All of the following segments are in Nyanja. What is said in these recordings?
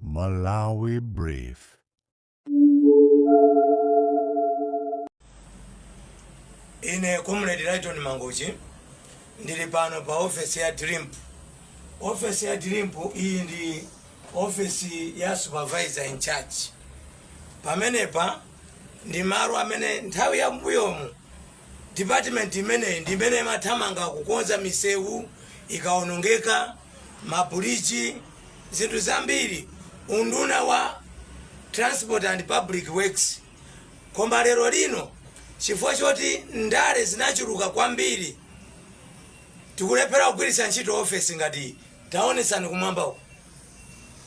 Malawi Brief. ine comrade lighton mangochi ndili pano pa ofesi ya dilimpu ofesi ya dilimpu iyi ndi ofesi ya supervisor in charge pamenepa ndi malo amene nthawi ya mbuyomu Department imeneyi ndi imene imathamanga kukonza misewu ikaonongeka, ma bridge, zinthu zambiri. Unduna wa Transport and Public Works. Koma lero lino chifukwa choti ndale zinachuluka kwambiri tikulephera kugwiritsa ntchito ofesi ngati iyi. Taonetsani kumwamba uko.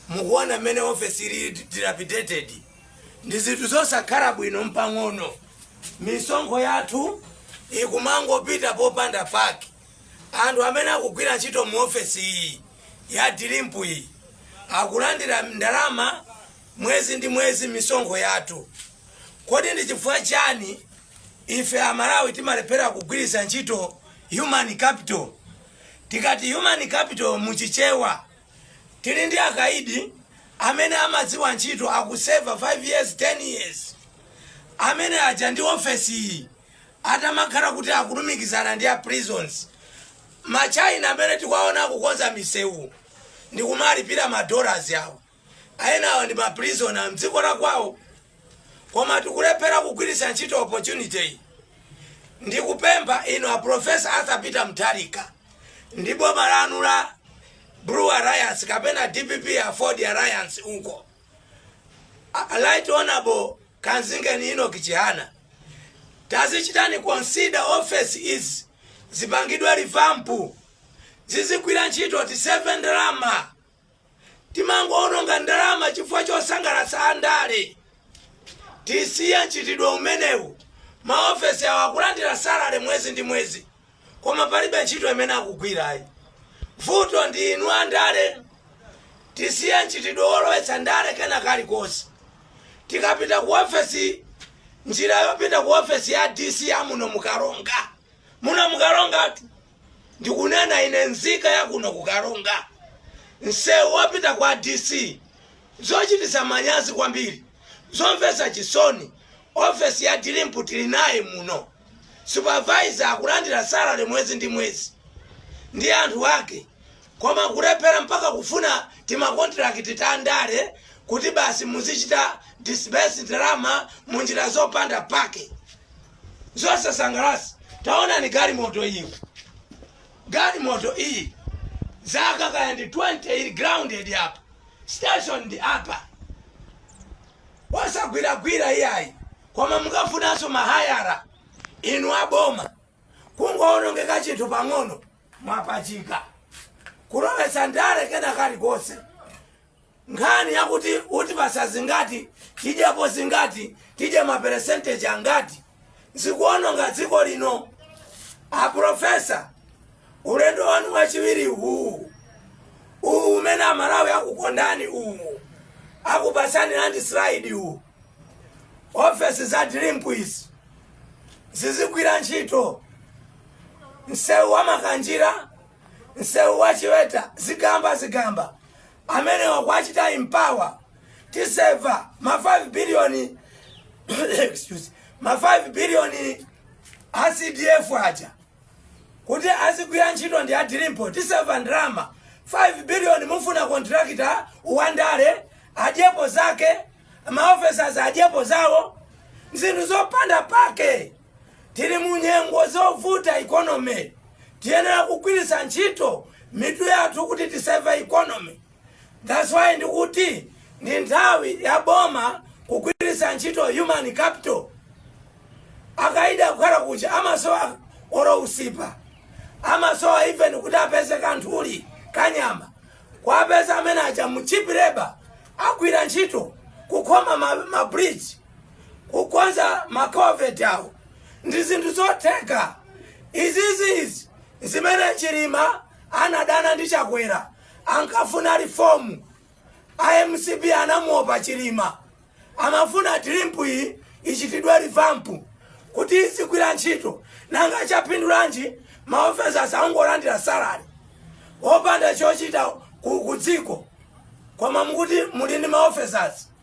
Mukuona mmene ofesi ili dilapidated. ndi zinthu zosakhala bwino mpang'ono misonkho yathu ikumangopita popanda pake anthu amene akugwira ntchito mu ofesi iyi ya dilimpu iyi akulandira ndalama mwezi ndi mwezi misonkho yathu kodi ndi chifukwa chani ife amalawi timalephera kugwiritsa ntchito human capital tikati human capital muchichewa Tili ndi akaidi amene amadziwa ntchito akuseva 5 years, 10 years. Amene aja ndi ofesi iyi atamakhala kuti akulumikizana ndi a prisons. Ma China amene tikuwaona akukonza misewu ndikumalipira ma dollars awo. Enawo ndi ma prisoner mdziko lakwawo. koma tikulephera kugwiritsa ntchito opportunity ndikupempha inu a professor arthur peter mutharika ndi boma lanu la blue alliance kapena dpp aford alliance uko a right honorable kamzingeni enoch chihana tazichitani consider office izi zipangidwe revamp zizigwira ntchito tiseve ndalama Timangoononga ndalama chifukwa chosangalatsa andale. Tisiye mchitidwe umenewu. Maofesi awo akulandira salary mwezi ndi mwezi, koma palibe ntchito imene akugwirayi. Vuto ndi inu andale. Tisiye mchitidwe wolowetsa ndale kena kalikonse. Tikapita ku ofesi, njira yopita ku ofesi ya DC ya muno mu Karonga, muno mu Karongatu. Ndikunena ine nzika ya kuno ku Karonga. Msewu wopita kwa DC. Zochititsa manyazi kwambiri. Zomvesa chisoni. Ofesi ya dilimpu tili naye muno. Supervisor akulandira salary mwezi ndi mwezi. Ndi anthu ake. Koma kulephera mpaka kufuna tima contract ta ndale kuti basi muzichita disburse ndalama mu njira zopanda pake. zosasangalatsa taonani galimoto iyi galimoto iyi zaka kaya ndi 20 ili grounded apa station ndi apa wosagwiragwira iyayi koma mukafunanso ma hire inu aboma kungoonongeka chinthu pang'ono mwapachika kulowetsa ndale kena kalikonse Nkhani yakuti utipatsa zingati, tidyapo zingati, tidye ma percentage angati zikuononga dziko lino. A professor, ulendo wanu wachiwiri uwu uwu umene amalawi akukondani uwu akupatsani landslide uwu ofesi za DRIMP izi zizigwira ntchito msewu wa makanjira msewu wa chiweta zigamba zigamba amenewa kuwachita empower tiseva ma 5 billion excuse ma 5 billion a cdf aja kuti azigwira ntchito ndi a DRIMP tiseva ndalama 5 billion mufuna contractor wandale adyepo zake maofesas adyepo zawo zinthu zopanda pake Tili mu nyengo zovuta economy tiyenera kugwiritsa ntchito mitu yathu kuti tiseve economy that's why ndikuti ndi nthawi ya boma kugwiritsa ntchito human capital akaidi kukhala kuja amasowa oro usipa amasowa even kuti apeze kanthuli kanyama kuwapeza amene aja mu cheap labor agwira ntchito kukhoma ma, ma bridge kukonza makaveti awo ndi zinthu zotheka izizizi zimene chilima anadana ndi chakwera ankafuna rifomu a mcp ankamuopa chilima amafuna DRIMP iyi ichitidwe rivampu kuti izigwira ntchito nanga chapindulanji maofesi angolandira salari opanda chochita ku ku dziko koma mukuti muli ndi maofesasi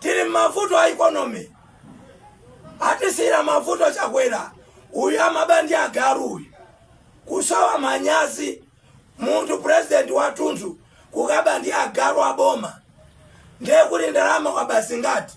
tili m'mavuto a ikonomi atisiyira mavuto chakwera uyu amaba ndi agalu uyu kusowa manyazi munthu purezidenti wathunthu kukaba ndi agalu aboma ndiye kuti ndalama waba zingati